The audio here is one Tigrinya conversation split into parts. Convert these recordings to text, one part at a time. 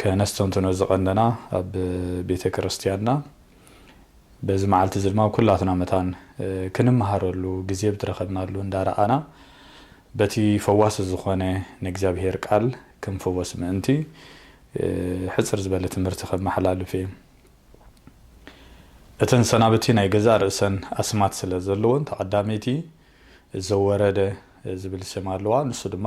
ከነስተንትኖ ዝቐነና ኣብ ቤተ ክርስቲያንና በዚ መዓልቲ እዚ ድማ ኩላትና መታን ክንመሃረሉ ግዜ ብትረኸብናሉ እንዳረኣና በቲ ፈዋሲ ዝኾነ ንእግዚኣብሔር ቃል ክንፍወስ ምእንቲ ሕጽር ዝበለ ትምህርቲ ከመሓላልፍ እየ። እተን ሰናብቲ ናይ ገዛእ ርእሰን ኣስማት ስለ ዘለወን ተቐዳመይቲ ዘወረደ ዝብል ስም ኣለዋ ንሱ ድማ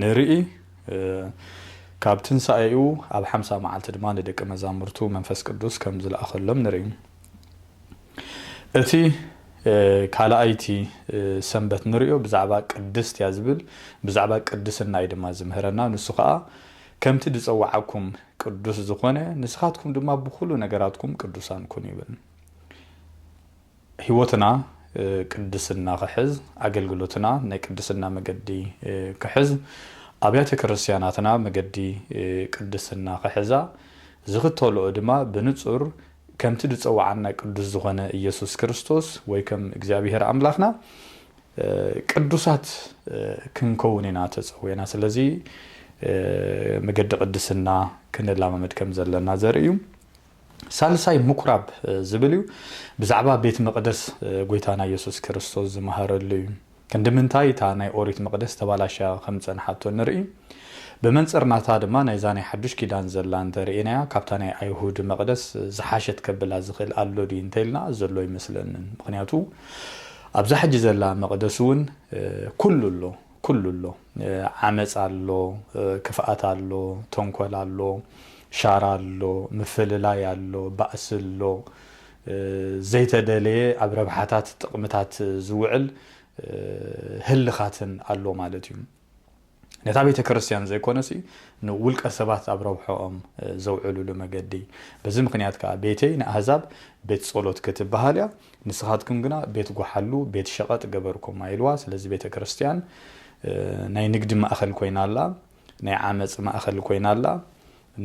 ንርኢ፣ ካብ ትንሳኤኡ ኣብ ሓምሳ መዓልቲ ድማ ንደቂ መዛሙርቱ መንፈስ ቅዱስ ከም ዝለኣኸሎም ንርኢ። እቲ ካልኣይቲ ሰንበት ንርእዮ ብዛዕባ ቅድስት እያ ዝብል፣ ብዛዕባ ቅድስና እዩ ድማ ዝምህረና፣ ንሱ ኸኣ ከምቲ ዝጸውዓኩም ቅዱስ ዝኾነ ንስኻትኩም ድማ ብኹሉ ነገራትኩም ቅዱሳን ኩኑ ይብል። ሕይወትና ቅድስና ክሕዝ፣ ኣገልግሎትና ናይ ቅድስና መገዲ ክሕዝ፣ ኣብያተ ክርስቲያናትና መገዲ ቅድስና ክሕዛ ዝኽተልኦ ድማ ብንጹር ከምቲ ዝጸውዓና ቅዱስ ዝኾነ ኢየሱስ ክርስቶስ ወይ ከም እግዚኣብሔር ኣምላኽና ቅዱሳት ክንከውን ኢና ተጸዊዕና። ስለዚ መገዲ ቅድስና ክንላማመድ ከም ዘለና ዘርኢ እዩ። ሳልሳይ ምኵራብ ዝብል እዩ። ብዛዕባ ቤት መቕደስ ጐይታና የሱስ ክርስቶስ ዝመሃረሉ እዩ። ክንዲ ምንታይ እታ ናይ ኦሪት መቕደስ ተባላሽያ ከም ዝጸንሓቶ ንርኢ። ብመንጽር ናታ ድማ ናይዛ ናይ ሓዱሽ ኪዳን ዘላ እንተ ርኤናያ ካብታ ናይ ኣይሁድ መቕደስ ዝሓሸት ከብላ ዝኽእል ኣሎ ድዩ እንተ ኢልና ዘሎ ኣይመስለንን። ምኽንያቱ ኣብዛ ሕጂ ዘላ መቕደስ እውን ኵሉ ኣሎ። ኩሉ ኣሎ ዓመጽ ኣሎ ክፍኣት ኣሎ ተንኮል ኣሎ ሻራ ኣሎ ምፍልላይ ኣሎ ባእሲ ኣሎ ዘይተደለየ ኣብ ረብሓታት ጥቅምታት ዝውዕል ህልኻትን ኣሎ ማለት እዩ ነታ ቤተክርስትያን ዘይኮነሲ ንውልቀ ሰባት ኣብ ረብሖኦም ዘውዕልሉ መገዲ በዚ ምክንያት ከኣ ቤተይ ንኣህዛብ ቤት ጸሎት ክትበሃል እያ ንስኻትኩም ግና ቤት ጐሓሉ፣ ቤት ሸቐጥ ገበርኩማ ኢልዋ። ስለዚ ቤተ ክርስቲያን ናይ ንግዲ ማእኸል ኮይና ኣላ፣ ናይ ዓመፅ ማእኸል ኮይና ኣላ፣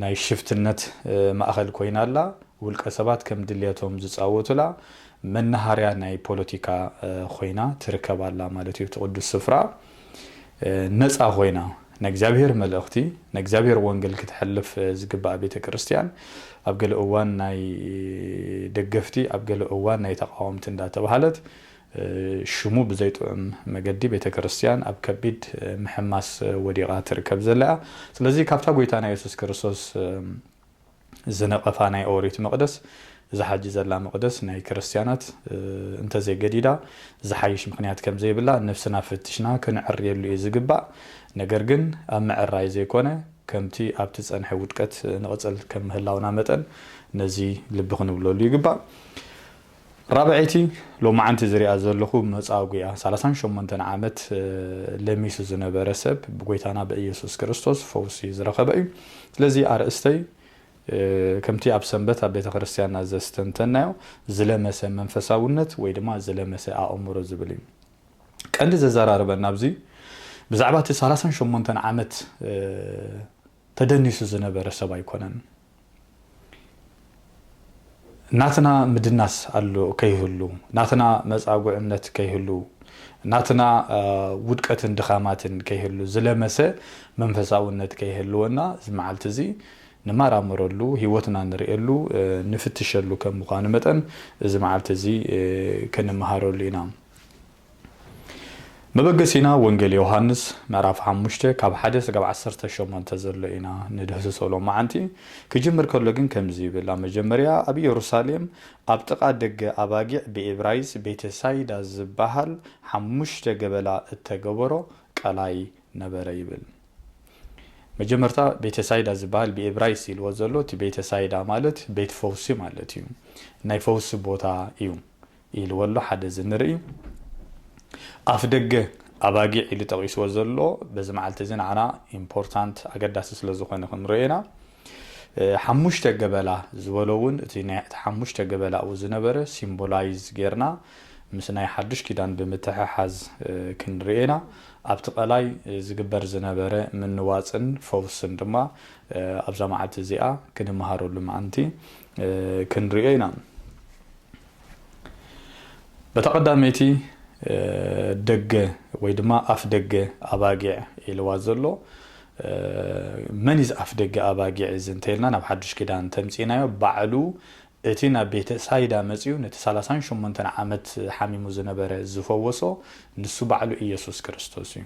ናይ ሽፍትነት ማእኸል ኮይና ኣላ፣ ውልቀ ሰባት ከም ድልየቶም ዝፃወቱላ መናሃርያ ናይ ፖለቲካ ኾይና ትርከብ ኣላ ማለት እዩ እቲ ቅዱስ ስፍራ። ነጻ ኮይና ናይ እግዚኣብሔር መልእኽቲ ናይ እግዚኣብሔር ወንገል ክተሕልፍ ዝግባኣ ቤተ ቅርስቲያን ኣብ ገለ እዋን ናይ ደገፍቲ ኣብ ገለ እዋን ናይ ተቃወምቲ እንዳተብሃለት ሽሙ ብዘይ ጥዑም መገዲ ቤተ ክርስቲያን ኣብ ከቢድ ምሕማስ ወዲቃ ትርከብ ዘለያ ስለዚ ካብታ ጎይታና የሱስ ክርስቶስ እዚ ነቐፋ ናይ ኦሪት መቕደስ እዛ ሐጂ ዘላ መቕደስ ናይ ክርስትያናት እንተዘይገዲዳ ዝሓይሽ ምኽንያት ከምዘይብላ ነፍስና ፈትሽና ክንዕርየሉ እዩ ዝግባእ ነገር ግን ኣብ ምዕራይ ዘይኮነ ከምቲ ኣብቲ ዝጸንሐ ውድቀት ንቕጽል ከም ምህላውና መጠን ነዚ ልቢ ክንብለሉ ይግባእ። ራብዐይቲ ሎማዓንቲ ዝሪኣ ዘለኹ መጻጉኢያ ሰላሳን ሸሞንተን ዓመት ለሚሱ ዝነበረ ሰብ ብጎይታና ብእየሱስ ክርስቶስ ፈውሲ ዝረኸበ እዩ ስለዚ ኣርእስተይ ከምቲ ኣብ ሰንበት ኣብ ቤተ ክርስቲያንና ዘስተንተናዮ ዝለመሰ መንፈሳውነት ወይ ድማ ዝለመሰ ኣእምሮ ዝብል እዩ ቀንዲ ዘዘራርበና ኣብዚ ብዛዕባ እቲ ሰላሳን ሸሞንተን ዓመት ተደኒሱ ዝነበረ ሰብ ኣይኮነን። ናትና ምድናስ ኣሎ ከይህሉ፣ ናትና መጻጉዕነት ከይህሉ፣ ናትና ውድቀትን ድኻማትን ከይህሉ፣ ዝለመሰ መንፈሳውነት ከይህልወና እዚ መዓልቲ እዚ ንመራመረሉ፣ ህይወትና ንርእየሉ፣ ንፍትሸሉ ከም ምዃኑ መጠን እዚ መዓልቲ እዚ ክንመሃረሉ ኢና። መበገሲና ወንጌል ዮውሃንስ ምዕራፍ ሓሙሽተ ካብ ሓደ ስጋብ ዓሰርተ ሸሞንተ ዘሎ ኢና ንድህስሶ ሎማዓንቲ ክጅምር ከሎ ግን ከምዚ ይብል ኣብ መጀመርያ ኣብ ኢየሩሳሌም ኣብ ጥቃ ደገ ኣባጊዕ ብኤብራይስ ቤተ ሳይዳ ዝባሃል ሓሙሽተ ገበላ እተገበሮ ቀላይ ነበረ ይብል መጀመርታ ቤተ ሳይዳ ዝባሃል ብኤብራይስ ኢልዎ ዘሎ እቲ ቤተ ሳይዳ ማለት ቤት ፈውሲ ማለት እዩ ናይ ፈውሲ ቦታ እዩ ኢልዎ'ሎ ሓደ እዚ ንርኢ ኣፍደገ ኣባጊዕ ኢሉ ጠቒስዎ ዘሎ በዚ መዓልቲ እዚ ንዓና ኢምፖርታንት ኣገዳሲ ስለ ዝኾነ ክንሪኦ ኢና ሓሙሽተ ገበላ ዝበሎ እውን እቲ ናይ እቲ ሓሙሽተ ገበላኡ ዝነበረ ሲምቦላይዝ ጌርና ምስ ናይ ሓዱሽ ኪዳን ብምትሕሓዝ ክንሪኦ ኢና ኣብቲ ቀላይ ዝግበር ዝነበረ ምንዋጽን ፈውስን ድማ ኣብዛ መዓልቲ እዚኣ ክንመሃረሉ ምኣንቲ ክንሪኦ ኢና በታ ቀዳመይቲ ደገ ወይ ድማ ኣፍደገ ኣባጊዕ ኢልዋ ዘሎ መን እዚ ኣፍደገ ኣባጊዕ እዚ እንተኢልና ናብ ሓዱሽ ኪዳን ተምጺእናዮ ባዕሉ እቲ ናብ ቤተ ሳይዳ መጺኡ ነቲ ሰላሳን ሸሞንተን ዓመት ሓሚሙ ዝነበረ ዝፈወሶ ንሱ ባዕሉ ኢየሱስ ክርስቶስ እዩ።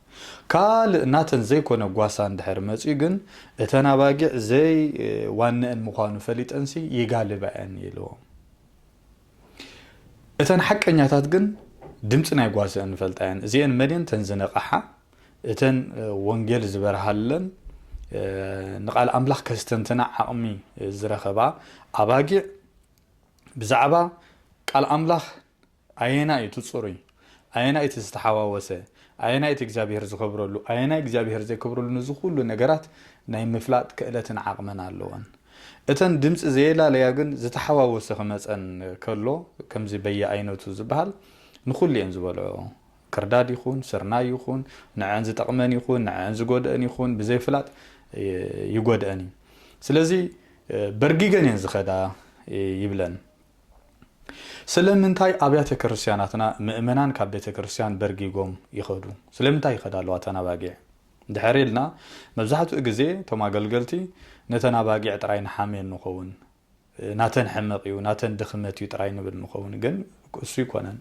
ካልእ ናተን ዘይኮነ ጓሳ እንድሕር መጽዩ ግን እተን ኣባጊዕ ዘይ ዋነኣን ምዃኑ ፈሊጠንሲ ይጋልባ'የን ኢሉዎም። እተን ሓቀኛታት ግን ድምጺ ናይ ጓሰኣን ይፈልጣ'የን። እዚኤን መን'የን? እተን ዝነቐሓ፣ እተን ወንጌል ዝበርሃለን፣ ንቓል ኣምላኽ ከስተንትና ዓቕሚ ዝረኸባ ኣባጊዕ ብዛዕባ ቃል ኣምላኽ ኣየናይ እዩ እቲ ጽሩይ? ኣየናይ እቲ ዝተሓዋወሰ? ኣየናይ እቲ እግዚኣብሄር ዝኸብረሉ? ኣየናይ እግዚኣብሄር ዘይከብረሉ ነዚ ኩሉ ነገራት ናይ ምፍላጥ ክእለትን ዓቕምን ኣለወን። እተን ድምጺ ዘየላለያ ግን ዝተሓዋወሰ ክመጸን ከሎ ከምዚ በየኣይነቱ ዝበሃል ንኹሉ እየን ዝበልዕኦ። ክርዳድ ይኹን ስርናይ ይኹን ንዐኣን ዝጠቕመን ይኹን ንዐኣን ዝጎድእን ይኹን ብዘይፍላጥ ይጎድእን እዩ። ስለዚ በርጊገን እየን ዝኸዳ ይብለን። ስለምንታይ ኣብያተ ክርስትያናትና ምእመናን ካብ ቤተ ክርስትያን በርጊጎም ይኸዱ? ስለምንታይ ይኸዳ ኣለዋ እተን ኣባጊዕ? እንድሕር ኢልና መብዛሕትኡ ግዜ እቶም ኣገልገልቲ ነተን ኣባጊዕ ጥራይ ንሓምየን ንኸውን። ናተን ሕመቕ እዩ፣ ናተን ድኽመት እዩ ጥራይ ንብል ንኸውን። ግን እሱ ኣይኮነን።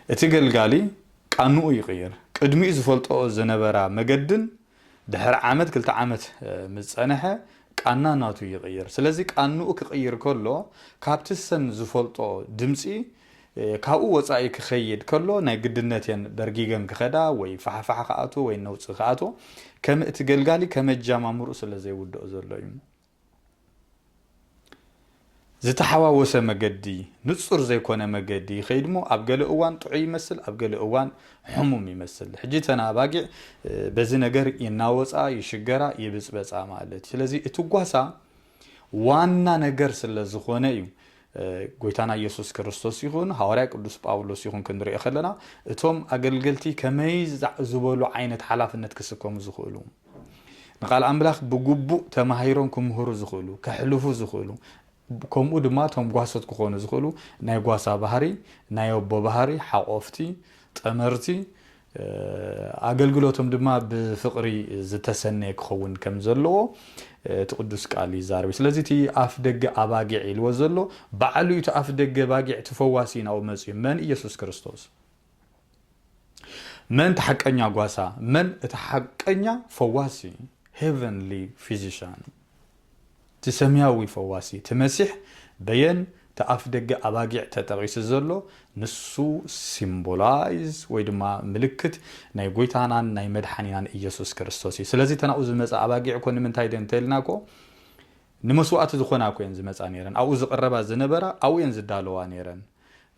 እቲ ገልጋሊ ቃንኡ ይቕይር። ቅድሚኡ ዝፈልጠኦ ዝነበራ መገድን ድሕሪ ዓመት ክልተ ዓመት ምስ ጸነሐ ቃና ናቱ ይቕይር ስለዚ ቃንኡ ክቕይር ከሎ ካብቲ ሰን ዝፈልጦ ድምጺ ካብኡ ወጻኢ ክኸይድ ከሎ ናይ ግድነት እየን በርጊገን ክኸዳ ወይ ፋሕፋሕ ክኣትዎ ወይ ነውጺ ክኣትዎ ከምእቲ ገልጋሊ ከመጃማምርኡ ስለዘይውድኦ ዘሎ እዩ ዝተሓዋወሰ መገዲ፣ ንጹር ዘይኮነ መገዲ ይኸይድሞ ኣብ ገለ እዋን ጥዑይ ይመስል ኣብ ገለ እዋን ሕሙም ይመስል። ሕጂ እተን ኣባጊዕ በዚ ነገር ይናወጻ፣ ይሽገራ፣ ይብጽበጻ ማለት እዩ። ስለዚ እቲ ጓሳ ዋና ነገር ስለ ዝኾነ እዩ ጎይታና ኢየሱስ ክርስቶስ ይኹን ሃዋርያ ቅዱስ ጳውሎስ ይኹን ክንሪኦ ከለና እቶም ኣገልገልቲ ከመይ ዝበሉ ዓይነት ሓላፍነት ክስከሙ ዝኽእሉ ንቃል ኣምላኽ ብግቡእ ተማሂሮም ክምህሩ ዝኽእሉ፣ ከሕልፉ ዝኽእሉ፣ ከምኡ ድማ እቶም ጓሶት ክኾኑ ዝኽእሉ ናይ ጓሳ ባህሪ፣ ናይ ኣቦ ባህሪ፣ ሓቆፍቲ፣ ጠመርቲ፣ ኣገልግሎቶም ድማ ብፍቕሪ ዝተሰነየ ክኸውን ከም ዘለዎ እቲ ቅዱስ ቃል ይዛረብ እዩ። ስለዚ እቲ ኣፍ ደገ ኣባጊዕ ኢልዎ ዘሎ ባዕሉ እዩ እቲ ኣፍ ደገ ባጊዕ እቲ ፈዋሲ ናብኡ መጺኡ መን ኢየሱስ ክርስቶስ። መን እቲ ሓቀኛ ጓሳ መን እቲ ሓቀኛ ፈዋሲ ሄቨንሊ ፊዚሻን እቲ ሰማያዊ ፈዋሲ እቲ መሲሕ በየን እቲ ኣፍ ደገ ኣባጊዕ ተጠቒሱ ዘሎ ንሱ ሲምቦላይዝ ወይ ድማ ምልክት ናይ ጎይታናን ናይ መድሓኒናን ኢየሱስ ክርስቶስ እዩ ስለዚ ተናኡ ዝመፀ ኣባጊዕ እኮ ንምንታይ ደ እንተልና እኮ ንመስዋእቲ ዝዀና እኮ እየን ዝመጻ ነይረን፣ ኣብኡ ዝቕረባ ዝነበራ ኣብኡ እየን ዝዳለዋ ነይረን።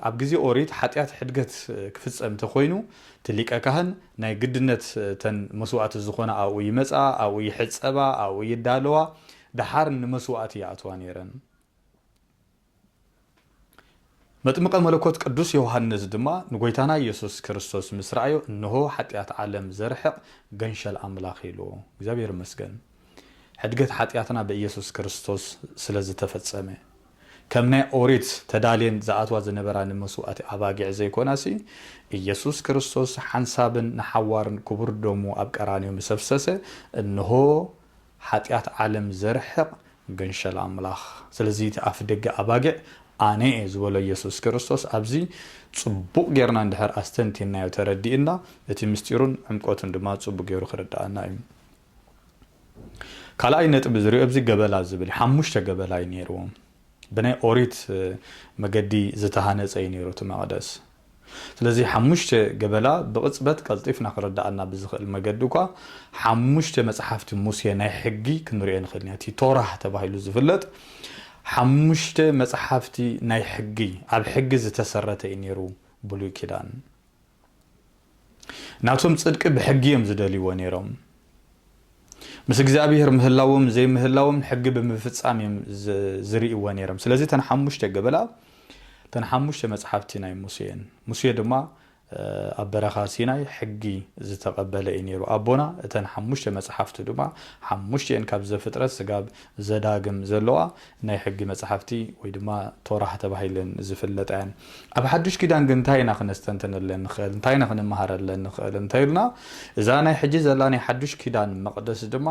ኣብ ግዜ ኦሪት ሓጢኣት ሕድገት ክፍጸም እንተ ዀይኑ፣ እቲ ሊቀ ካህን ናይ ግድነት እተን መስዋእቲ ዝዀና ኣብኡ ይመጻ፣ ኣብኡ ይሕጸባ፣ ኣብኡ ይዳለዋ፣ ደሓር ንመስዋእቲ ይኣትዋ ነይረን። መጥምቀ መለኮት ቅዱስ ዮሃንስ ድማ ንጐይታና ኢየሱስ ክርስቶስ ምስ ረኣዮ እንሆ ሓጢኣት ዓለም ዘርሕቕ ገንሸል ኣምላኽ ኢሉ። እግዚኣብሔር ይመስገን ሕድገት ሓጢኣትና ብኢየሱስ ክርስቶስ ስለ ዝተፈጸመ። ከም ናይ ኦሪት ተዳልየን ዝኣትዋ ዝነበራ ንመስዋእቲ ኣባጊዕ ዘይኮናሲ ኢየሱስ ክርስቶስ ሓንሳብን ንሓዋርን ክቡር ደሙ ኣብ ቀራንዮ ምስ ኣፍሰሰ እንሆ ሓጢኣት ዓለም ዘርሕቕ ገንሸል ኣምላኽ። ስለዚ እቲ ኣፍደገ ኣባጊዕ ኣነ እየ ዝበሎ ኢየሱስ ክርስቶስ ኣብዚ ጽቡቕ ጌርና እንድሕር ኣስተንቲንናዮ ተረዲእና እቲ ምስጢሩን ዕምቆቱን ድማ ጽቡቕ ጌሩ ክርድኣና እዩ። ካልኣይ ነጥቢ ዝሪኦ ኣብዚ ገበላ ዝብል እዩ ሓሙሽተ ገበላ እዩ ኔርዎም። ብናይ ኦሪት መገዲ ዝተሃነጸ እዩ ነይሩ እቲ መቕደስ። ስለዚ ሓሙሽተ ገበላ ብቕጽበት ቀልጢፍና ክርድኣና ብዝኽእል መገዲ እኳ ሓሙሽተ መጽሓፍቲ ሙሴ ናይ ሕጊ ክንርእዮ ንኽእል ኢና። እቲ ቶራህ ተባሂሉ ዝፍለጥ ሓሙሽተ መጽሓፍቲ ናይ ሕጊ ኣብ ሕጊ ዝተሰረተ እዩ ነይሩ ብሉይ ኪዳን። ናቶም ጽድቂ ብሕጊ እዮም ዝደልይዎ ነይሮም። ምስ እግዚኣብሔር ምህላዎም ዘይምህላዎም ሕጊ ብምፍጻም እዮም ዝርእይዎ ነይሮም። ስለዚ ተን ሓሙሽተ ገበላ ተን ሓሙሽተ መጽሓፍቲ ናይ ሙሴ እየን። ሙሴ ድማ ኣብ በረኻ ሲናይ ሕጊ ዝተቐበለ እዩ ነይሩ ኣቦና። እተን ሓሙሽተ መጽሓፍቱ ድማ ሓሙሽተን ካብ ዘፍጥረት ስጋብ ዘዳግም ዘለዋ ናይ ሕጊ መጻሕፍቲ ወይ ድማ ቶራህ ተባሂለን ዝፍለጣ እየን። ኣብ ሓዱሽ ኪዳን ግን እንታይ ኢና ክነስተንትነለን ንኽእል? እንታይ ኢና ክንመሃረለን ንኽእል? እንተ ኢልና እዛ ናይ ሕጂ ዘላ ናይ ሓዱሽ ኪዳን መቕደስ ድማ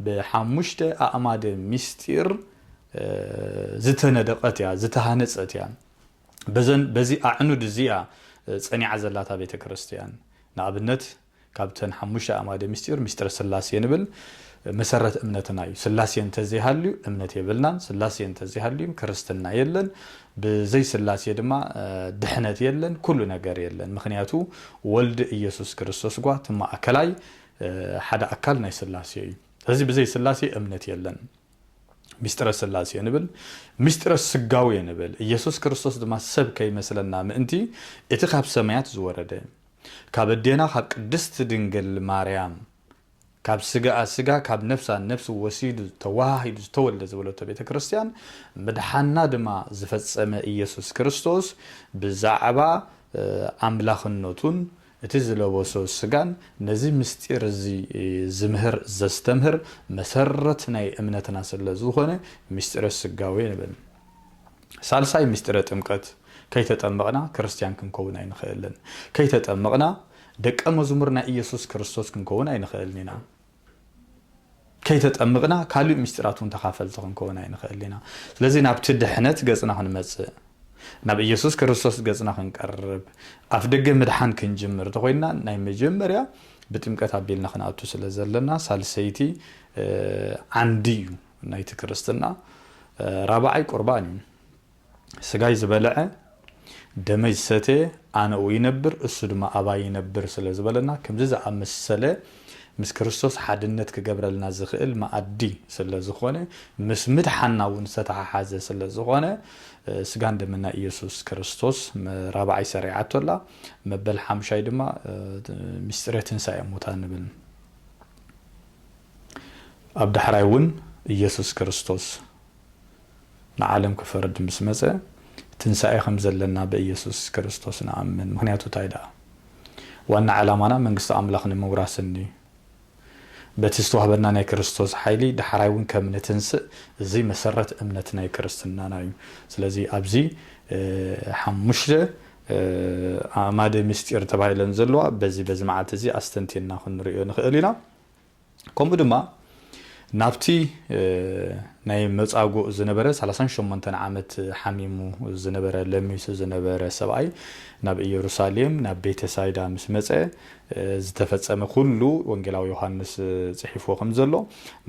ብሓሙሽተ ኣእማደ ምስጢር ዝተነደቐት እያ፣ ዝተሃነጸት እያ። በዘን በዚ ኣዕኑድ እዚ እያ ጸኒዓ ዘላ እታ ቤተ ክርስትያን። ንኣብነት፣ ካብተን ሓሙሽተ ኣእማደ ምስጢር ምስጢረ ስላሴ ንብል መሰረት እምነትና እዩ ስላሴ እንተዘይሃልዩ እምነት የብልናን ስላሴ እንተዘይሃልዩም ክርስትና የለን ብዘይ ስላሴ ድማ ድሕነት የለን ኩሉ ነገር የለን ምክንያቱ ወልድ ኢየሱስ ክርስቶስ ጓ ትማእከላይ ሓደ ኣካል ናይ ስላሴ እዩ እዚ ብዘይ ስላሴ እምነት የለን ምስጢረ ስላሴ ንብል ምስጢረ ስጋዌ ንብል ኢየሱስ ክርስቶስ ድማ ሰብ ከይመስለና ምእንቲ እቲ ካብ ሰማያት ዝወረደ ካብ ኣዴና ካብ ቅድስት ድንግል ማርያም ካብ ስጋኣ ስጋ ካብ ነፍሳ ነፍሲ ወሲዱ ተወሃሂዱ ዝተወልደ ዝበለቶ ቤተ ክርስቲያን ምድሓንና ድማ ዝፈጸመ ኢየሱስ ክርስቶስ ብዛዕባ ኣምላኽነቱን እቲ ዝለበሶ ስጋን ነዚ ምስጢር እዚ ዝምህር ዘስተምህር መሰረት ናይ እምነትና ስለዝኾነ ምስጢረ ስጋዌ ንብል። ሳልሳይ ምስጢረ ጥምቀት ከይተጠመቕና ክርስትያን ክንከውን ኣይንኸእልን። ከይተጠመቕና ደቀ መዝሙር ናይ ኢየሱስ ክርስቶስ ክንከውን ኣይንኸእልን ኢና። ከይተጠምቕና ካልእ ምስጢራት እውን ተኻፈልቲ ክንከውን ኣይንኸእልን ኢና። ስለዚ ናብቲ ድሕነት ገጽና ክንመጽእ ናብ ኢየሱስ ክርስቶስ ገጽና ክንቀርብ ኣፍ ደገ ምድሓን ክንጅምር እንተኾይንና ናይ መጀመርያ ብጥምቀት ኣቢልና ክንኣቱ ስለ ዘለና ሳልሰይቲ ዓንዲ እዩ። ናይቲ ክርስትና ራብዓይ ቁርባን እዩ። ስጋይ ዝበልዐ ደመይ ዝሰትየ ኣነኡ ይነብር እሱ ድማ ኣባይ ይነብር ስለ ዝበለና ከምዚ ዝኣመሰለ ምስ ክርስቶስ ሓድነት ክገብረልና ዝኽእል መኣዲ ስለ ዝኾነ ምስ ምድሓና እውን ዝተተሓሓዘ ስለ ዝኾነ ስጋን ደምን ናይ ኢየሱስ ክርስቶስ ራብዓይ ሰሪዓቶ ኣላ መበል ሓምሻይ ድማ ምስጢረ ትንሳኤ ሙታን ንብል ኣብ ዳሕራይ እውን ኢየሱስ ክርስቶስ ንዓለም ክፈርድ ምስ መጸ ትንሣኤ ከም ዘለና ብኢየሱስ ክርስቶስ ንኣምን ምኽንያቱ እንታይ ደኣ ዋና ዕላማና መንግስቲ ኣምላኽ ንምውራስን እዩ በቲ ዝተዋህበና ናይ ክርስቶስ ሓይሊ ዳሕራይ እውን ከም ንትንስእ እዚ መሰረት እምነት ናይ ክርስትናና እዩ ስለዚ ኣብዚ ሓሙሽተ ኣእማደ ምስጢር ተባሂለን ዘለዋ በዚ በዚ መዓልቲ እዚ ኣስተንቲንና ክንርእዮ ንኽእል ኢና ከምኡ ድማ ናብቲ ናይ መጻጉእ ዝነበረ ሰላሳን ሸሞንተን ዓመት ሓሚሙ ዝነበረ ለሚሱ ዝነበረ ሰብኣይ ናብ ኢየሩሳሌም ናብ ቤተ ሳይዳ ምስ መጸ ዝተፈጸመ ኩሉ ወንጌላዊ ዮሐንስ ጽሒፍዎ ከም ዘሎ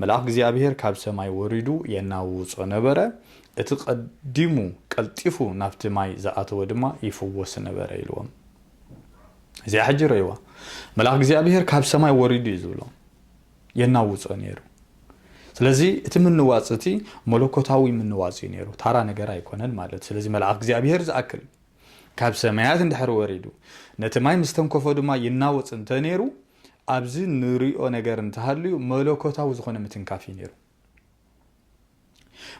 መልኣኽ እግዚኣብሔር ካብ ሰማይ ወሪዱ የናውጾ ነበረ እቲ ቀዲሙ ቀልጢፉ ናብቲ ማይ ዝኣተወ ድማ ይፍወስ ነበረ ኢልዎም እዚኣ ሕጂ ረይዋ መልኣክ እግዚኣብሄር ካብ ሰማይ ወሪዱ እዩ ዝብሎ የናውፆ ነይሩ ስለዚ እቲ ምንዋፅ እቲ መለኮታዊ ምንዋፅ እዩ ነይሩ ታራ ነገር ኣይኮነን ማለት ስለዚ መልኣክ እግዚኣብሄር ዝኣክል ካብ ሰማያት እንድሕር ወሪዱ ነቲ ማይ ምስ ተንከፎ ድማ ይናወፅ እንተነይሩ ኣብዚ ንሪኦ ነገር እንተሃልዩ መለኮታዊ ዝኾነ ምትንካፍ እዩ ነይሩ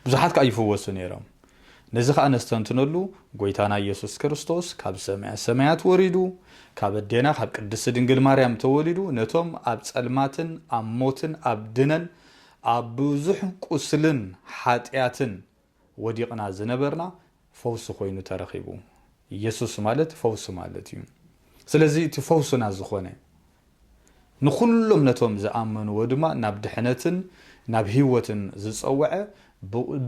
ብዙሓት ከኣ ይፍወሱ ነይሮም። ነዚ ከኣ ነስተንትነሉ ጎይታና ኢየሱስ ክርስቶስ ካብ ሰማያ ሰማያት ወሪዱ ካብ ኣዴና ካብ ቅድስቲ ድንግል ማርያም ተወሊዱ ነቶም ኣብ ጸልማትን ኣብ ሞትን ኣብ ድነን ኣብ ብዙሕ ቁስልን ሓጢኣትን ወዲቕና ዝነበርና ፈውሲ ኮይኑ ተረኺቡ። የሱስ ማለት ፈውሲ ማለት እዩ። ስለዚ እቲ ፈውስና ዝኾነ ንኹሎም ነቶም ዝኣመንዎ ድማ ናብ ድሕነትን ናብ ህይወትን ዝጸወዐ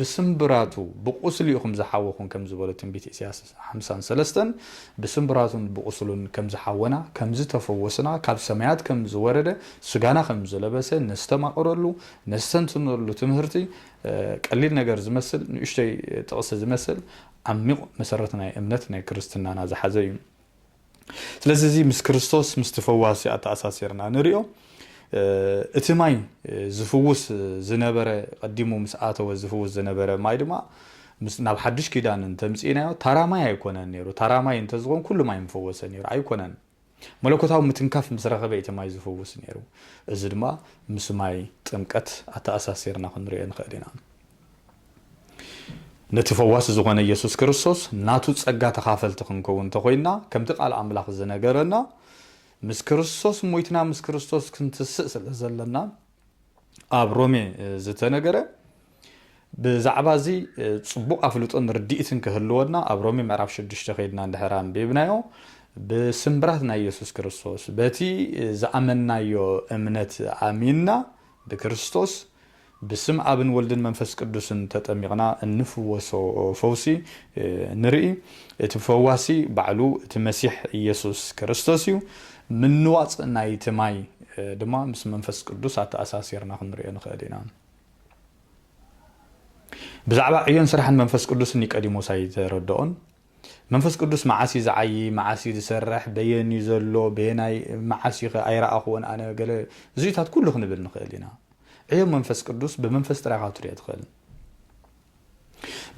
ብስምብራቱ ብቑስሊ ኢኹም ዝሓወኹን ከም ዝበሎ ትንቢት ኢሳያስ ሓምሳን ሰለስተን ብስምብራቱን ብቑስሉን ከም ዝሓወና ከም ዝተፈወስና ካብ ሰማያት ከም ዝወረደ ስጋና ከም ዝለበሰ ነስተማቕረሉ ነስተንትነሉ ትምህርቲ ቀሊል ነገር ዝመስል ንእሽቶይ ጥቕሲ ዝመስል ዓሚቕ መሰረት ናይ እምነት ናይ ክርስትናና ዝሓዘ እዩ። ስለዚ እዚ ምስ ክርስቶስ ምስቲ ፈዋሲ ኣተኣሳሲርና ንሪኦ እቲ ማይ ዝፍውስ ዝነበረ ቀዲሙ ምስ ኣተወ ዝፍውስ ዝነበረ ማይ ድማ ናብ ሓድሽ ኪዳን እንተምፂእናዮ ታራ ማይ ኣይኮነን ነይሩ። ታራ ማይ እንተዝኾን ኩሉ ማይ ምፈወሰ ነይሩ ኣይኮነን። መለኮታዊ ምትንካፍ ምስ ረኸበ እዩ እቲ ማይ ዝፍውስ ነይሩ። እዚ ድማ ምስ ማይ ጥምቀት ኣተኣሳሲርና ክንርእዮ ንኽእል ኢና። ነቲ ፈዋሲ ዝኾነ የሱስ ክርስቶስ ናቱ ጸጋ ተኻፈልቲ ክንከውን እንተ ኾይንና፣ ከምቲ ቃል ኣምላኽ ዝነገረና ምስ ክርስቶስ ሞይትና ምስ ክርስቶስ ክንትስእ ስለ ዘለና፣ ኣብ ሮሜ ዝተነገረ ብዛዕባ እዚ ፅቡቅ ኣፍልጦን ርድኢትን ክህልወና ኣብ ሮሜ ምዕራፍ ሽዱሽተ ከይድና እንድሕር ኣንቢብናዮ ብስምብራት ናይ የሱስ ክርስቶስ በቲ ዝኣመናዮ እምነት ኣሚንና ብክርስቶስ ብስም ኣብን ወልድን መንፈስ ቅዱስን ተጠሚቕና እንፍወሶ ፈውሲ ንርኢ እቲ ፈዋሲ ባዕሉ እቲ መሲሕ ኢየሱስ ክርስቶስ እዩ ምንዋጽ ናይቲ ማይ ድማ ምስ መንፈስ ቅዱስ ኣተኣሳሲርና ክንርእዮ ንኽእል ኢና። ብዛዕባ ዕዮን ስራሕን መንፈስ ቅዱስ ኒቀዲሞስ ኣይተረድኦን። መንፈስ ቅዱስ መዓስ እዩ ዝዓዪ፣ መዓስ እዩ ዝሰርሕ፣ በየን እዩ ዘሎ፣ በየናይ መዓስ እዩኸ ኣይረኣኹዎን ኣነ፣ ገለ እዚኡታት ኩሉ ክንብል ንኽእል ኢና። ዕዮ መንፈስ ቅዱስ ብመንፈስ ጥራይ ኢኻ ክትርእዮ ትኽእል።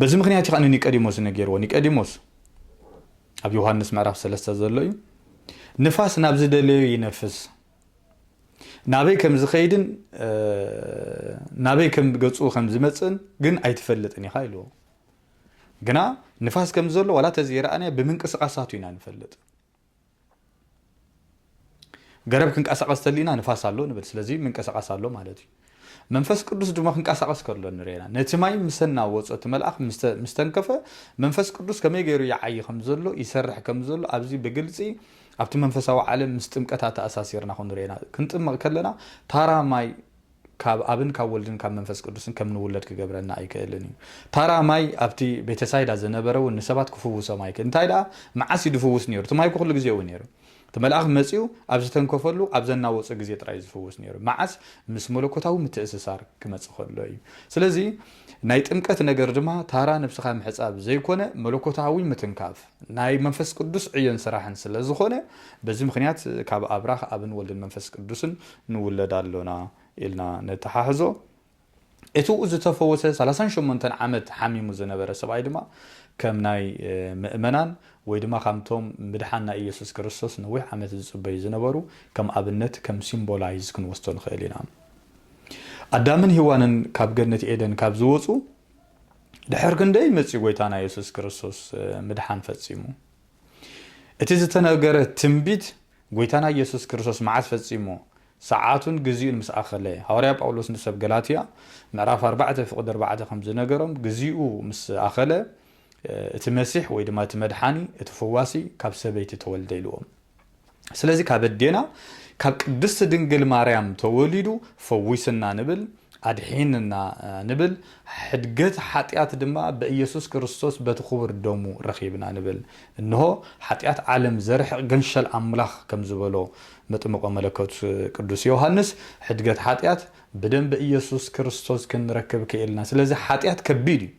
በዚ ምክንያት እዩ ከዓ ንኒቀዲሞስ ነገርዎ ኒቀዲሞስ ኣብ ዮሃንስ ምዕራፍ ሰለስተ ዘሎ እዩ ንፋስ ናብ ዝደለዩ ይነፍስ ናበይ ከም ዝኸይድን ናበይ ከም ገፁ ከም ዝመፅእን ግን ኣይትፈልጥን ኢኻ ኢልዎ ግና ንፋስ ከም ዘሎ ዋላ ተዘይረኣናዮ ብምንቅስቃሳቱ ኢና ንፈልጥ ገረብ ክንቀሳቐስ ተሊና ንፋስ ኣሎ ንብል ስለዚ ምንቀሳቐስ ኣሎ ማለት እዩ መንፈስ ቅዱስ ድማ ክንቀሳቐስ ከሎ ንርኤና ነቲ ማይ ምሰ ናወፆ እቲ መልኣኽ ምስተንከፈ መንፈስ ቅዱስ ከመይ ገይሩ ይዓይ ከም ዘሎ ይሰርሕ ከም ዘሎ ኣብዚ ብግልፂ ኣብቲ መንፈሳዊ ዓለም ምስ ጥምቀታ ተኣሳሲርና ክንርኤና ክንጥመቕ ከለና ታራ ማይ ካብ ኣብን ካብ ወልድን ካብ መንፈስ ቅዱስን ከም ንውለድ ክገብረና ኣይክእልን እዩ። ታራ ማይ ኣብቲ ቤተሳይዳ ዝነበረ እውን ንሰባት ክፍውሶም ኣይክእልን። እንታይ ደኣ መዓስ እዩ ዝፍውስ ነይሩ? እቲ ማይ እኮ ኩሉ ግዜ እዩ ነይሩ። እቲ መልኣኽ መጺኡ ኣብ ዝተንከፈሉ ኣብ ዘናወጾ ግዜ ጥራይ እዩ ዝፍውስ ነይሩ። መዓስ? ምስ መለኮታዊ ምትእስሳር ክመጽእ ከሎ እዩ። ስለዚ ናይ ጥምቀት ነገር ድማ ታራ ነብስኻ ምሕጻብ ዘይኮነ መለኮታዊ ምትንካፍ። ናይ መንፈስ ቅዱስ ዕዮን ስራሕን ስለ ዝኾነ፣ በዚ ምኽንያት ካብ ኣብራኽ ኣብን ወልድን መንፈስ ቅዱስን ንውለድ ኣሎና ኢልና ነተሓሕዞ። እቲ'ው ዝተፈወሰ ሰላሳን ሸሞንተን ዓመት ሓሚሙ ዝነበረ ሰብኣይ ድማ ከም ናይ ምእመናን ወይ ድማ ከምቶም ምድሓን ናይ ኢየሱስ ክርስቶስ ነዊሕ ዓመት ዝጽበዩ ዝነበሩ ከም ኣብነት ከም ሲምቦላይዝ ክንወስዶ ንኽእል ኢና። ኣዳምን ሂዋንን ካብ ገነት ኤደን ካብ ዝወጹ፣ ድሕር ክንደይ መጽዩ ጎይታና የሱስ ክርስቶስ ምድሓን ፈጺሙ። እቲ ዝተነገረ ትንቢት ጎይታና የሱስ ክርስቶስ መዓስ ፈጺሙ ሰዓቱን ግዚኡን ምስ ኣኸለ ሃዋርያ ጳውሎስ ንሰብ ገላትያ ምዕራፍ ኣርባዕተ ፍቕዲ ኣርባዕተ ከም ዝነገሮም ግዚኡ ምስ ኣኸለ እቲ መሲሕ ወይ ድማ እቲ መድሓኒ እቲ ፈዋሲ ካብ ሰበይቲ ተወልደ ኢልዎም። ስለዚ ካብ ኣዴና ካብ ቅድስቲ ድንግል ማርያም ተወሊዱ ፈዊስና ንብል ኣድሒንና ንብል ሕድገት ሓጢኣት ድማ በኢየሱስ ክርስቶስ በቲ ክቡር ደሙ ረኺብና ንብል እንሆ ሓጢኣት ዓለም ዘርሕቕ ገንሸል ኣምላኽ ከም ዝበሎ መጥምቆ መለኮት ቅዱስ ዮሐንስ ሕድገት ሓጢኣት ብደም በኢየሱስ ክርስቶስ ክንረክብ ክኢልና ስለዚ ሓጢኣት ከቢድ እዩ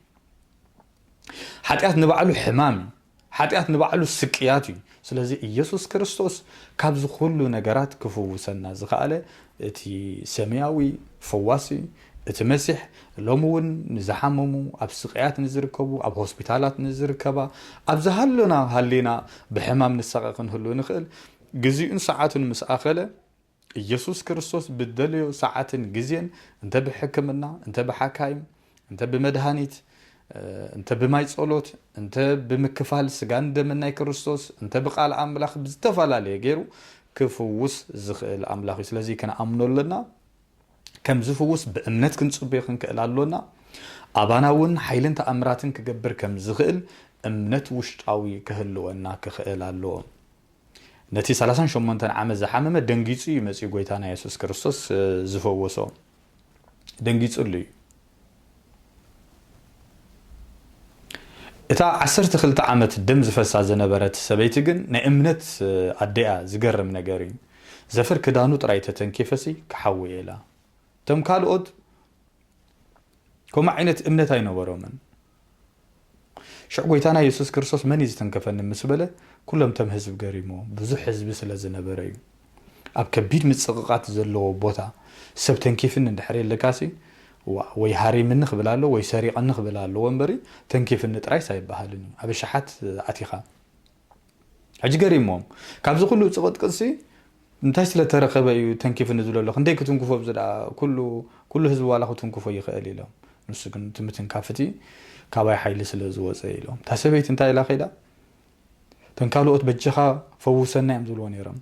ሓጢኣት ንባዕሉ ሕማም እዩ ሓጢኣት ንባዕሉ ስቅያት እዩ። ስለዚ ኢየሱስ ክርስቶስ ካብዚ ኩሉ ነገራት ክፍውሰና ዝኸኣለ እቲ ሰማያዊ ፈዋሲ እቲ መሲሕ ሎሚ እውን ንዝሓመሙ ኣብ ስቅያት ንዝርከቡ ኣብ ሆስፒታላት ንዝርከባ ኣብ ዝሃሎና ሃሊና ብሕማም ንሳቐ ክንህሉ ንኽእል ግዚኡን ሰዓቱን ምስ ኣኸለ ኢየሱስ ክርስቶስ ብደለዮ ሰዓትን ግዜን እንተ ብሕክምና እንተ ብሓካይም እንተ ብመድሃኒት እንተ ብማይ ጸሎት እንተ ብምክፋል ስጋን ደምን ናይ ክርስቶስ እንተ ብቃል ኣምላኽ ብዝተፈላለየ ገይሩ ክፍውስ ዝኽእል ኣምላኽ እዩ ስለዚ ክንኣምኖ ኣለና ከም ዝፍውስ ብእምነት ክንጽበዮ ክንክእል ኣሎና ኣባና እውን ሓይልን ተኣምራትን ክገብር ከም ዝኽእል እምነት ውሽጣዊ ክህልወና ክኽእል ኣለዎ ነቲ ሰላሳን ሸሞንተን ዓመት ዝሓመመ ደንጊጹ እዩ መጺኡ ጎይታና የሱስ ክርስቶስ ዝፈወሶ ደንጊጹሉ እዩ እታ ዓሰርተ ክልተ ዓመት ደም ዝፈሳ ዝነበረት ሰበይቲ ግን ናይ እምነት ኣዴኣ ዝገርም ነገር እዩ ዘፈር ክዳኑ ጥራይ ተተንኪፈሲ ክሓዊ ኢላ እቶም ካልኦት ከምኡ ዓይነት እምነት ኣይነበሮምን ሽዑ ጐይታና የሱስ ክርስቶስ መን እዩ ዝተንከፈኒ ምስ በለ ኩሎም እቶም ህዝቢ ገሪምዎም ብዙሕ ህዝቢ ስለ ዝነበረ እዩ። ኣብ ከቢድ ምጽቕቓት ዘለዎ ቦታ ሰብ ተንኪፍኒ እንድሕር የለካሲ ዋእ ወይ ሃሪምኒ ክብል ኣሎ ወይ ሰሪቐኒ ክብል ኣለዎ እምበሪ ተንኪፍኒ ጥራይስ ኣይበሃልን እዩ። ኣብ ኣሽሓት ኣቲኻ። ሕጂ ገሪምዎም ካብዚ ኩሉ ጽቕጥቅጥሲ እንታይ ስለ ተረኸበ እዩ ተንኪፍኒ ዝብሎ ኣሎ ክንደይ ክትንክፎ ብዚ ደኣ ኩሉ ኩሉ ህዝቢ ዋላ ክትንክፎ ይኽእል ኢሎም ንሱ ግን እቲ ምትንካፍቲ ካባይ ሓይሊ ስለ ዝወጸ ኢሎም እታ ሰበይቲ እንታይ ኢላ ከይዳ ተን ካልኦት በጀኻ ፈውሰና እዮም ዝብልዎ ነይሮም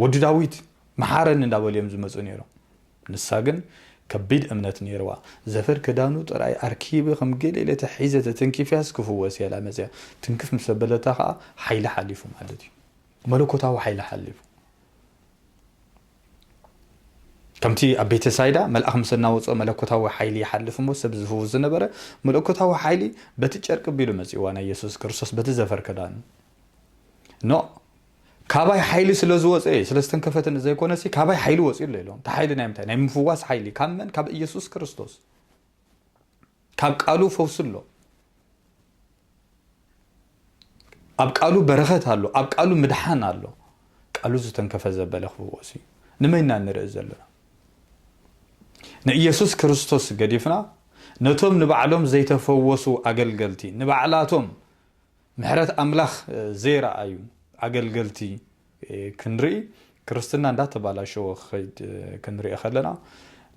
ወዲ ዳዊት መሓረኒ እንዳበሉ እዮም ዝመጹ ነይሮም። ንሳ ግን ከቢድ እምነት ነይርዋ። ዘፈር ክዳኑ ጥራይ ኣርኪበ ከም ገሌለ ተሒዘ ተተንኪፈያስ ክፍወስ እየ ኢላ መጺኣ። ትንክፍ ምስ ኣበለታ ከኣ ሓይሊ ሓሊፉ ማለት እዩ። መለኮታዊ ሓይሊ ሓሊፉ። ከምቲ ኣብ ቤተ ሳይዳ መልኣኽ ምስ እናወጽኦ መለኮታዊ ሓይሊ ይሓልፍ እሞ ሰብ ዝፍውስ ዝነበረ መለኮታዊ ሓይሊ በቲ ጨርቂ ቢሉ መጺእዋ ናይ የሱስ ክርስቶስ በቲ ዘፈር ክዳኑ። ኖእ ካባይ ሓይሊ ስለ ዝወፀ እየ ስለ ዝተንከፈትኒ ዘይኮነሲ ካባይ ሓይሊ ወፂኡ ኣሎ ኢሎም እቲ ሓይሊ ናይ ምንታይ ናይ ምፍዋስ ሓይሊ ካብ መን ካብ ኢየሱስ ክርስቶስ ካብ ቃሉ ፈውሲ ኣሎ ኣብ ቃሉ በረኸት ኣሎ ኣብ ቃሉ ምድሓን ኣሎ ቃሉ ዝተንከፈ ዘበለ ክፍወስ እዩ ንመይና ንርኢ ዘለና ንኢየሱስ ክርስቶስ ገዲፍና ነቶም ንባዕሎም ዘይተፈወሱ ኣገልገልቲ ንባዕላቶም ምሕረት ኣምላኽ ዘይረኣዩ ኣገልገልቲ ክንርኢ ክርስትና እንዳተባላሸወ ክኸይድ ክንርኢ ከለና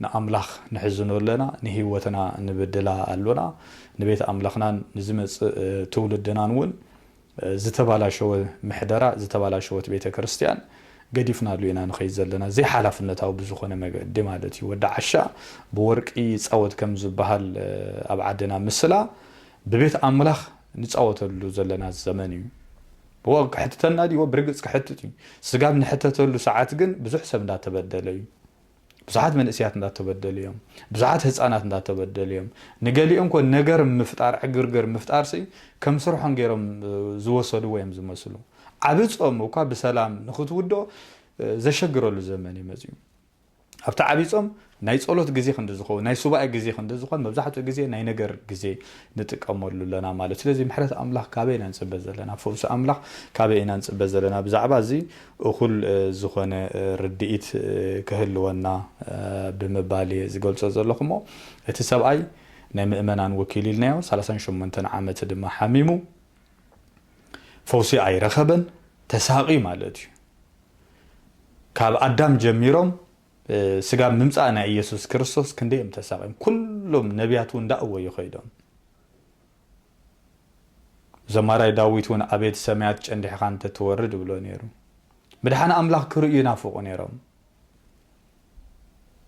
ንኣምላኽ ነሕዝኖ ኣለና ንህይወትና ንብድላ ኣሎና ንቤት ኣምላኽናን ንዝመጽእ ትውልድናን እውን ዝተባላሸወ ምሕደራ ዝተባላሸወት ቤተ ክርስትያን ገዲፍናሉ ኢና ንኸይድ ዘለና ዘይሓላፍነታዊ ብዝኾነ መገዲ ማለት እዩ ወዲ ዓሻ ብወርቂ ይጻወት ከም ዝበሃል ኣብ ዓድና ምስላ ብቤት ኣምላኽ ንጻወተሉ ዘለና ዘመን እዩ። ብወግ ክሕትተና ድዩ? ብርግጽ ክሕትት እዩ። ስጋ ኣብ ንሕተተሉ ሰዓት ግን ብዙሕ ሰብ እንዳተበደለ እዩ። ብዙሓት መንእሰያት እንዳተበደሉ እዮም። ብዙሓት ህጻናት እንዳተበደሉ እዮም። ንገሊኦም እኮ ነገር ምፍጣር ዕግርግር ምፍጣርሲ ከም ስርሖም ገይሮም ዝወሰድዎ እዮም ዝመስሉ። ዓቢ ጾም እኳ ብሰላም ንኽትውድኦ ዘሸግረሉ ዘመን እዩ መጺኡ። ኣብቲ ዓቢይ ጾም ናይ ጸሎት ግዜ ክንዲ ዝኸውን ናይ ሱባኤ ግዜ ክንዲ ዝኾን መብዛሕትኡ ግዜ ናይ ነገር ግዜ ንጥቀመሉ ኣለና ማለት እዩ። ስለዚ ምሕረት ኣምላኽ ካበይ ኢና ንጽበ ዘለና? ፈውሲ ኣምላኽ ካበይ ኢና ንጽበ ዘለና? ብዛዕባ እዚ እኹል ዝኾነ ርድኢት ክህልወና ብምባል እየ ዝገልጾ ዘለኹ እሞ እቲ ሰብኣይ ናይ ምእመናን ወኪል ኢልናዮ ሰላሳን ሸሞንተን ዓመት ድማ ሓሚሙ ፈውሲ ኣይረኸበን ተሳቒ ማለት እዩ ካብ ኣዳም ጀሚሮም ስጋብ ምምፃእ ናይ ኢየሱስ ክርስቶስ ክንደይ እዮም ተሳቒም ኩሎም ነቢያት እውን ዳእወዩ ከይዶም ዘማራይ ዳዊት እውን ኣቤት ሰማያት ጨንዲሕኻ እንተትወርድ ብሎ ነይሩ ምድሓን ኣምላኽ ክርእዩ ይናፍቑ ነይሮም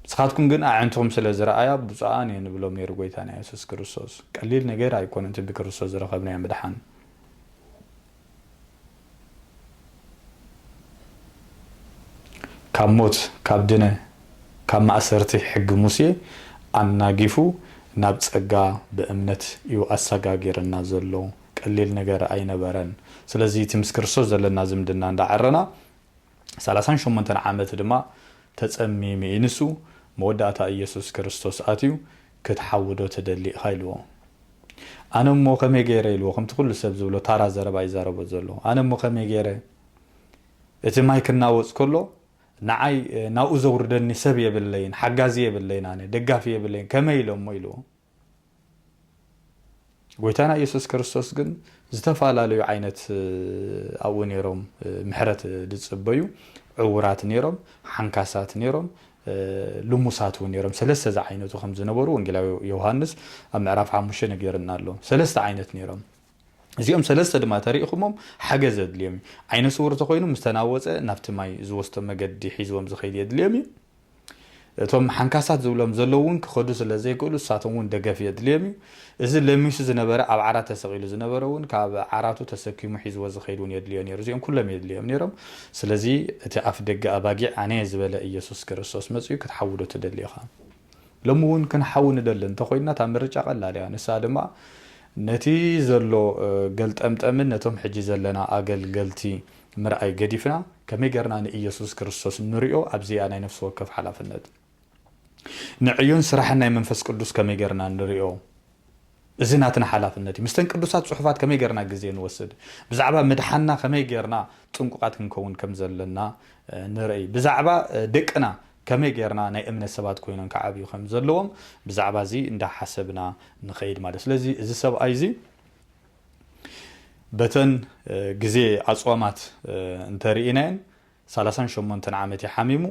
ንስኻትኩም ግን ኣዕንትኹም ስለ ዝረኣያ ብፁዓን እየን እብሎም ነይሩ ጐይታና የሱስ ክርስቶስ። ቀሊል ነገር ኣይኰነን እቲ ብክርስቶስ ዝረኸብናዮ ምድሓን። ካብ ሞት፣ ካብ ድነ፣ ካብ ማእሰርቲ ሕጊ ሙሴ ኣናጊፉ ናብ ጸጋ ብእምነት እዩ ኣሰጋጊረና ዘሎ። ቀሊል ነገር ኣይነበረን። ስለዚ እቲ ምስ ክርስቶስ ዘለና ዝምድና እንዳዐረና፣ ሰላሳን ሸሞንተን ዓመት ድማ ተጸሚሚ እዩ። ንሱ፣ መወዳእታ ኢየሱስ ክርስቶስ ኣትዩ፣ ክትሓውዶ ትደሊ ኢኻ ኢልዎ። ኣነ እሞ ከመይ ገይረ ኢልዎ፣ ከምቲ ኩሉ ሰብ ዝብሎ ታራ ዘረባ ይዛረቦ ዘሎ። ኣነ እሞ ከመይ ገይረ፣ እቲ ማይ ክናወጽ ከሎ ንዓይ ናብኡ ዘውርደኒ ሰብ የብለይን፣ ሓጋዚ የብለይን፣ ኣነ ደጋፊ የብለይን፣ ከመይ ኢለ እሞ ኢልዎ። ጎይታና ኢየሱስ ክርስቶስ ግን ዝተፋላለዩ ዓይነት ኣብኡ ነይሮም ምሕረት ዝጽበዩ ዕውራት ነይሮም ሓንካሳት ነይሮም ልሙሳት እውን ነይሮም ሰለስተ ዝዓይነቱ ከም ዝነበሩ ወንጌላዊ ዮሃንስ ኣብ ምዕራፍ ሓሙሽተ ነገርና ኣሎ ሰለስተ ዓይነት ነይሮም እዚኦም ሰለስተ ድማ ተሪኢኹሞም ሓገዝ የድልዮም እዩ ዓይነ ስውር ተኮይኑ ምስተናወፀ ናብቲ ማይ ዝወስቶ መገዲ ሒዝዎም ዝኸይድ የድልዮም እዩ እቶም ሓንካሳት ዝብሎም ዘለዉ እውን ክኸዱ ስለ ዘይክእሉ ንሳቶም እውን ደገፍ የድልዮም እዩ። እዚ ለሚሱ ዝነበረ ኣብ ዓራት ተሰቒሉ ዝነበረ እውን ካብ ዓራቱ ተሰኪሙ ሒዝዎ ዝኸይድ እውን የድልዮ ነይሩ። እዚኦም ኩሎም የድልዮም ነይሮም። ስለዚ እቲ ኣፍ ደገ ኣባጊዕ ኣነ እየ ዝበለ ኢየሱስ ክርስቶስ መጺኡ ክትሓውዶ ትደሊ ኢኻ። ሎሚ እውን ክንሓዊ ንደሊ እንተ ኾይንና እታ ምርጫ ቀላል እያ። ንሳ ድማ ነቲ ዘሎ ገልጠምጠምን ነቶም ሕጂ ዘለና ኣገልገልቲ ምርኣይ ገዲፍና ከመይ ጌርና ንኢየሱስ ክርስቶስ ንሪኦ ኣብዚ እያ ናይ ነፍሲ ወከፍ ሓላፍነት። ንዕዩን ስራሕን ናይ መንፈስ ቅዱስ ከመይ ጌርና ንሪኦ እዚ ናትና ሓላፍነት እዩ። ምስተን ቅዱሳት ጽሑፋት ከመይ ጌርና ግዜ ንወስድ። ብዛዕባ ምድሓንና ከመይ ጌርና ጥንቁቓት ክንከውን ከም ዘለና ንርእይ። ብዛዕባ ደቅና ከመይ ጌርና ናይ እምነት ሰባት ኮይኖም ክዓብዩ ከም ዘለዎም ብዛዕባ እዚ እንዳ ሓሰብና ንኸይድ ማለት እዩ። ስለዚ እዚ ሰብኣይ እዚ በተን ግዜ ኣጽዋማት እንተ ርኢናየን ሰላሳን ሸሞንተን ዓመት እዩ ሓሚሙ።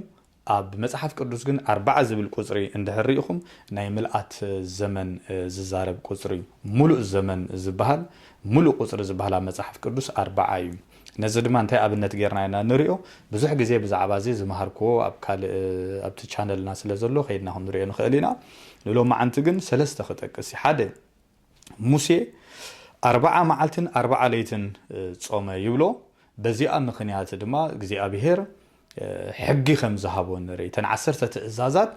ኣብ መጽሓፍ ቅዱስ ግን ኣርብዓ ዝብል ቁጽሪ እንድሕር ርኢኹም ናይ ምልኣት ዘመን ዝዛረብ ቁጽሪ እዩ። ምሉእ ዘመን ዝበሃል ምሉእ ቁጽሪ ዝበሃል ኣብ መጽሓፍ ቅዱስ ኣርብዓ እዩ። ነዚ ድማ እንታይ ኣብነት ጌርና ኢና ንሪኦ? ብዙሕ ግዜ ብዛዕባ እዚ ዝመሃርክዎ ኣብ ካልእ ኣብቲ ቻነልና ስለ ዘሎ ከይድና ክንሪኦ ንኽእል ኢና። ንሎማዓንቲ ግን ሰለስተ ክጠቅስ እዩ። ሓደ ሙሴ ኣርብዓ መዓልትን ኣርብዓ ለይትን ጾመ ይብሎ። በዚኣ ምኽንያት ድማ እግዚኣብሄር ሕጊ ከም ዝሃቦ ንርኢ። እተን ዓሰርተ ትእዛዛት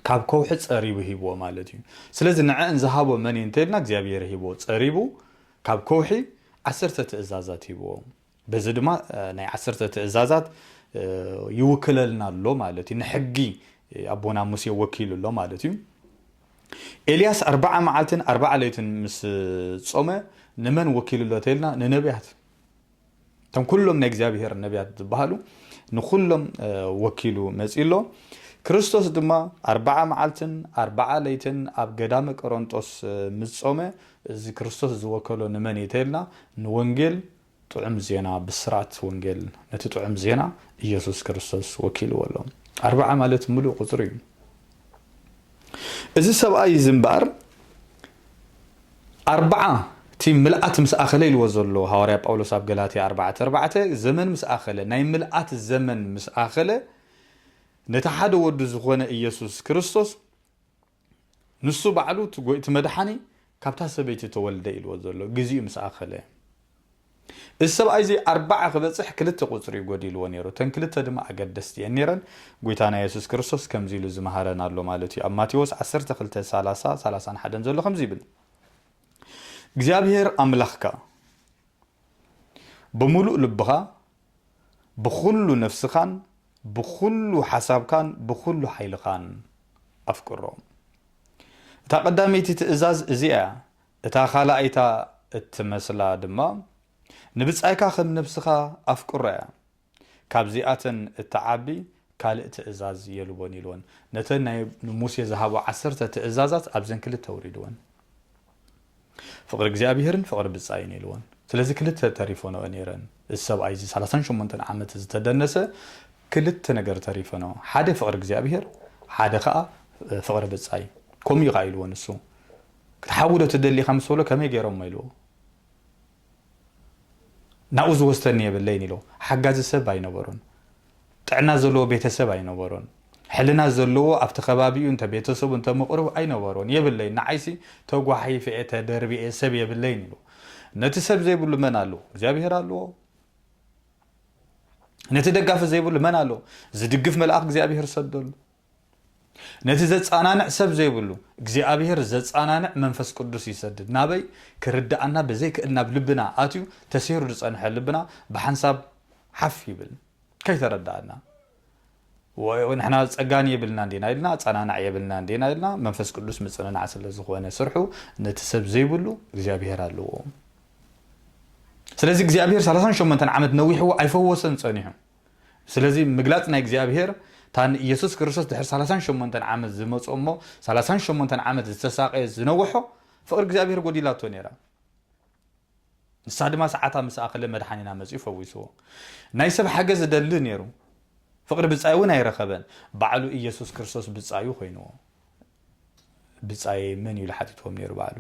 ካብ ከውሒ ጸሪቡ ሂብዎ ማለት እዩ። ስለዚ ንዐን ዝሃቦ መን እዩ እንተልና እግዚኣብሄር ሂብዎ። ጸሪቡ ካብ ከውሒ ዓሰርተ ትእዛዛት ሂብዎ። በዚ ድማ ናይ ዓሰርተ ትእዛዛት ይውክለልና ኣሎ ማለት እዩ ንሕጊ ኣቦና ሙሴ ወኪሉ ኣሎ ማለት እዩ ኤልያስ ኣርባዓ መዓልትን ኣርባዓ ለይትን ምስ ጾመ ንመን ወኪሉ ኣሎ ተልና ንነቢያት እቶም ኩሎም ናይ እግዚኣብሄር ነቢያት ዝበሃሉ ንኩሎም ወኪሉ መፅኡ ኣሎ ክርስቶስ ድማ ኣርባዓ መዓልትን ኣርባዓ ለይትን ኣብ ገዳመ ቆሮንጦስ ምስ ጾመ እዚ ክርስቶስ ዝወከሎ ንመን እዩ ተይልና ንወንጌል ጥዑም ዜና ብስራት ወንጌል ነቲ ጥዑም ዜና ኢየሱስ ክርስቶስ ወኪልዎ ኣሎ ኣርብዓ ማለት ምሉእ ቁጽሪ እዩ እዚ ሰብኣይ እዚ እምበኣር ኣርብዓ እቲ ምልኣት ምስ ኣኸለ ኢልዎ ዘሎ ሃዋርያ ጳውሎስ ኣብ ገላትያ ኣርባዕተ ኣርባዕተ ዘመን ምስ ኣኸለ ናይ ምልኣት ዘመን ምስ ኣኸለ ነቲ ሓደ ወዱ ዝኾነ ኢየሱስ ክርስቶስ ንሱ ባዕሉ እቲ ጎይእቲ መድሓኒ ካብታ ሰበይቲ ተወልደ ኢልዎ ዘሎ ግዚኡ ምስ ኣኸለ እዚ ሰብኣይ እዚ ኣርባዓ ክበጽሕ ክልተ ቁጽሪ እዩ ጎዲልዎ ነይሩ እተን ክልተ ድማ ኣገደስቲ እየን ነይረን ጎይታና የሱስ ክርስቶስ ከምዚ ኢሉ ዝመሃረን ኣሎ ማለት እዩ ኣብ ማቴዎስ ዓሰርተ ክልተ ሰላሳ ሰላሳን ሓደን ዘሎ ከምዚ ይብል እግዚኣብሔር ኣምላኽካ ብምሉእ ልብኻ ብኹሉ ነፍስኻን ብኹሉ ሓሳብካን ብኹሉ ሓይልኻን ኣፍቅሮ። እታ ቀዳመይቲ ትእዛዝ እዚኣ እያ፣ እታ ኻልኣይታ እትመስላ ድማ ንብጻይካ ኸም ነፍስኻ ኣፍቅሮ እያ። ካብዚኣተን እትዓቢ ካልእ ትእዛዝ የልቦን ኢልወን። ነተን ናይ ንሙሴ ዝሃቦ ዓሰርተ ትእዛዛት ኣብዘን ክልተ ኣውሪድወን። ፍቕሪ እግዚኣብሄርን ፍቕሪ ብጻይን የልቦን። ስለዚ ክልተ ተሪፈንኦ ነይረን። እዚ ሰብኣይ እዚ ሰላሳን ሸሞንተን ዓመት እዚ ተደነሰ ክልተ ነገር ተሪፈንኦ። ሓደ ፍቕሪ እግዚኣብሄር ሓደ ከኣ ፍቕሪ ብጻይ። ከምኡ እዩ ከኣ ኢልዎ ንሱ። ክትሓዊ ዶ ትደሊ ኢኻ ምስ በሎ ከመይ ገይሮሞ ኢልዎ። ናብኡ ዝወስደኒ የብለይን ኢሎ። ሓጋዚ ሰብ ኣይነበሮን። ጥዕና ዘለዎ ቤተሰብ ኣይነበሮን። ሕልና ዘለዎ ኣብቲ ከባቢኡ እንተ ቤተሰቡ እንተ ምቕርቡ ኣይነበሮን። የብለይን። ንዓይሲ ተጓሒፈ'የ ተደርቢየ ሰብ የብለይን ኢሎ። ነቲ ሰብ ዘይብሉ መን ኣለዎ? እግዚኣብሄር ኣለዎ። ነቲ ደጋፊ ዘይብሉ መን ኣለዎ? ዝድግፍ መልኣኽ እግዚኣብሄር ሰደሉ። ነቲ ዘጻናንዕ ሰብ ዘይብሉ እግዚኣብሄር ዘጻናንዕ መንፈስ ቅዱስ ይሰድድ ናበይ ክርድኣና ብዘይክእል ናብ ልብና ኣትዩ ተሴሩ ዝጸንሐ ልብና ብሓንሳብ ሓፍ ይብል ከይተረድኣና ንሕና ጸጋን የብልናን ዲና ኢልና ኣጸናናዕ የብልናን ዲና ኢልና መንፈስ ቅዱስ ምጽንናዕ ስለ ዝኾነ ስርሑ ነቲ ሰብ ዘይብሉ እግዚኣብሄር ኣለዎ ስለዚ እግዚኣብሄር 38 ዓመት ነዊሕዎ ኣይፈወሰን ጸኒሑ ስለዚ ምግላጽ ናይ እግዚኣብሔር እታ ንኢየሱስ ክርስቶስ ድሕሪ ሰላሳን ሸሞንተን ዓመት ዝመጾ እሞ ሰላሳን ሸሞንተን ዓመት ዝተሳቀየት ዝነወሖ ፍቅሪ እግዚኣብሔር ጎዲላቶ ነይራ ንሳ ድማ ሰዓታ ምስ ኣኸለ መድሓኒና መጺኡ ፈዊስዎ ናይ ሰብ ሓገዝ ዝደሊ ነይሩ ፍቅሪ ብጻዩ እውን ኣይረኸበን ባዕሉ ኢየሱስ ክርስቶስ ብጻዩ ኮይንዎ ብጻየይ መን እዩ ኢሉ ሓቲትዎም ነይሩ ባዕሉ።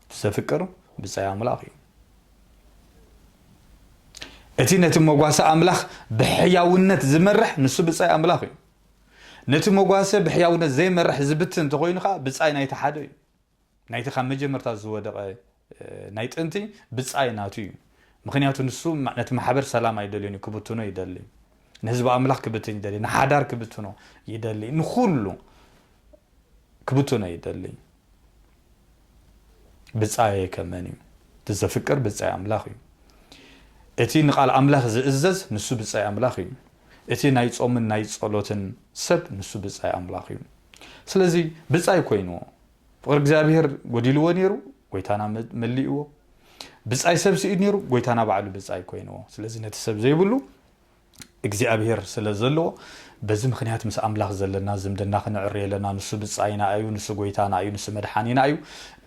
እቲ ዘፍቅር ብጻይ ኣምላኽ እዩ። እቲ ነቲ መጓሰ ኣምላኽ ብሕያውነት ዝመርሕ ንሱ ብጻይ ኣምላኽ እዩ። ነቲ መጓሰ ብሕያውነት ዘይመርሕ ዝብትን እንተኾይኑ ከዓ ብጻይ ናይቲ ሓደ እዩ። ናይቲ ካብ መጀመርታ ዝወደቐ ናይ ጥንቲ ብጻይ ናቱ እዩ። ምኽንያቱ ንሱ ነቲ ማሕበር ሰላም ኣይደልዮን እዩ ክብትኖ ይደሊ። ንህዝቢ ኣምላኽ ክብትን ይደሊ፣ ንሓዳር ክብትኖ ይደሊ፣ ንኹሉ ክብትኖ ይደሊ። ብጻየይ ከ መን እዩ? እቲ ዘፍቅር ብጻይ ኣምላኽ እዩ። እቲ ንቓል ኣምላኽ ዝእዘዝ ንሱ ብጻይ ኣምላኽ እዩ። እቲ ናይ ጾምን ናይ ጸሎትን ሰብ ንሱ ብጻይ ኣምላኽ እዩ። ስለዚ ብጻይ ኮይንዎ ፍቕሪ እግዚኣብሔር ጎዲልዎ ነይሩ፣ ጎይታና መሊእዎ። ብጻይ ሰብ ስኢድ ነይሩ፣ ጎይታና ባዕሉ ብጻይ ኮይንዎ። ስለዚ ነቲ ሰብ ዘይብሉ እግዚኣብሔር ስለ ዘለዎ በዚ ምክንያት ምስ ኣምላኽ ዘለና ዝምድና ክንዕሪ ኣለና። ንሱ ብጻይና እዩ፣ ንሱ ጎይታና እዩ፣ ንሱ መድሓኒና እዩ።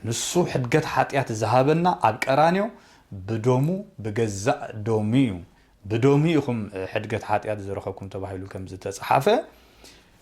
ንሱ ሕድገት ሓጢኣት ዝሃበና ኣብ ቀራንዮ ብደሙ ብገዛእ ደሙ እዩ። ብደሙ ኢኹም ሕድገት ሓጢኣት ዝረኸብኩም ተባሂሉ ከም ዝተጽሓፈ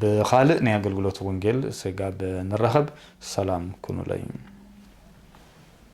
ብኻልእ ናይ ኣገልግሎት ወንጌል ስጋብ ንራኸብ ሰላም ኩኑለይ።